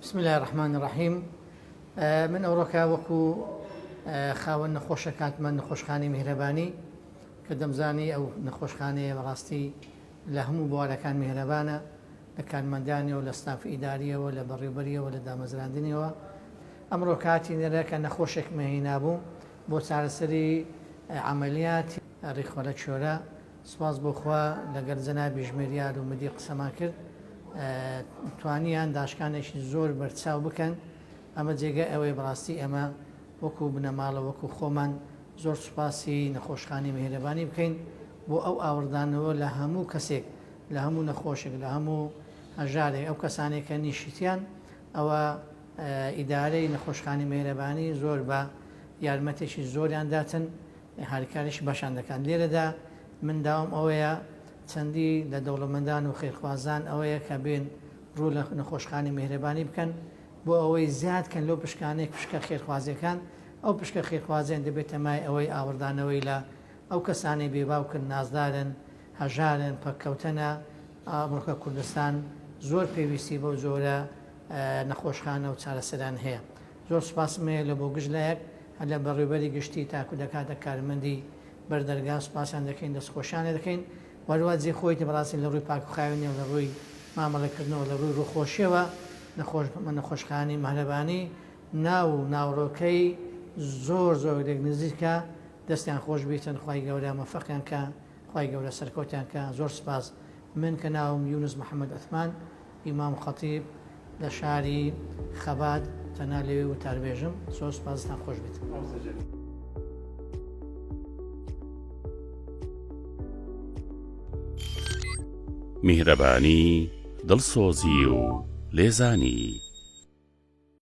بسم اللە الرحمن الرحیم من ئەوڕۆکە وەکو خاوەن نەخۆشە کاتمە نەخۆشخانی میهرەبانی کە دەمزانی ئەو نەخۆشخانەیە بەڕاستی لە هەموو بوارەکان میهرەبانە لە کارمەندانیەوە لە ستاف ئیداریەوە لە بەڕێوبەریەوە لە دامەزراندنیەوە ئەمڕۆ کاتی نەرە کە نەخۆشێک مەهینابوو بۆ چارەسەری عملیاتی ڕیخۆرە چۆرە سوپاس بۆ خوا لەگەل جەنابی ژمێریار و مدیر قسەمان کرد توانیان داشکانێکی زۆر بەرچاو بکەن ئەمە جێگای ئەوەی بەڕاستی ئەمە وەکو بنەماڵە وەکو خۆمان زۆر سوپاسی نەخۆشخانی مهرەبانی بکەین بۆ ئەو ئاوردانەوە لە هەموو کەسێک لە هەموو نەخۆشێک لە هەموو هەژارێک ئەو کەسانێک کە نیشتیان ئەوە ئیدارەی نەخۆشخانی مهرەبانی زۆر بە یارمەتێکی زۆریان داتن هاریکاریش باشان دەکات لێرەدا من داوام ئەوەیە چەندی لە دەوڵەمەندان و خێرخوازان ئەوەیە کە بێن ڕوو لە نەخۆشخانەی میهرەبانی بکەن بۆ ئەوەی زیاد کەن لەو پشکانەی پشکە خێرخوازیەکان ئەو پشکە خێرخوازیان دەبێتە مای ئەوەی ئاوڕدانەوەی لە ئەو کەسانەی بێباوکن نازدارن هەژارن پەککەوتەنە ئەمڕۆکە کوردستان زۆر پێویستی بەو جۆرە نەخۆشخانە و چارەسەران هەیە. زۆر سوپاسم هەیە لە بۆ گشت لایەک هەر لە بەڕێوبەری گشتی تاکو دەکاتە کارمەندی بەر دەرگا سوپاسیان دەکەین دەست خۆشیان لێ دەکەین و هەروە جێ خۆیتی بەڕاستی لە ڕووی پاکو خاوێنی و لە ڕووی مامەڵە کردنەوە لە ڕووی ڕووخۆشیەوە نەخۆش نەخۆشخانی مەهرەبانی ناو و ناوڕۆکەی زۆر زۆر لێک نزیکە دەستیان خۆش بیتن خوای گەورە مەفەقیان کا خوای گەورە سەرکەوتیان کا زۆر سوپاس من کە ناوم یونس محمد عثمان ئیمام خەتیب لە شاری خەبات تەنها لەوێ وتاربێژم زۆر سوپاس دەستان خۆش بێت. میهرەبانی دڵسۆزی و لێزانی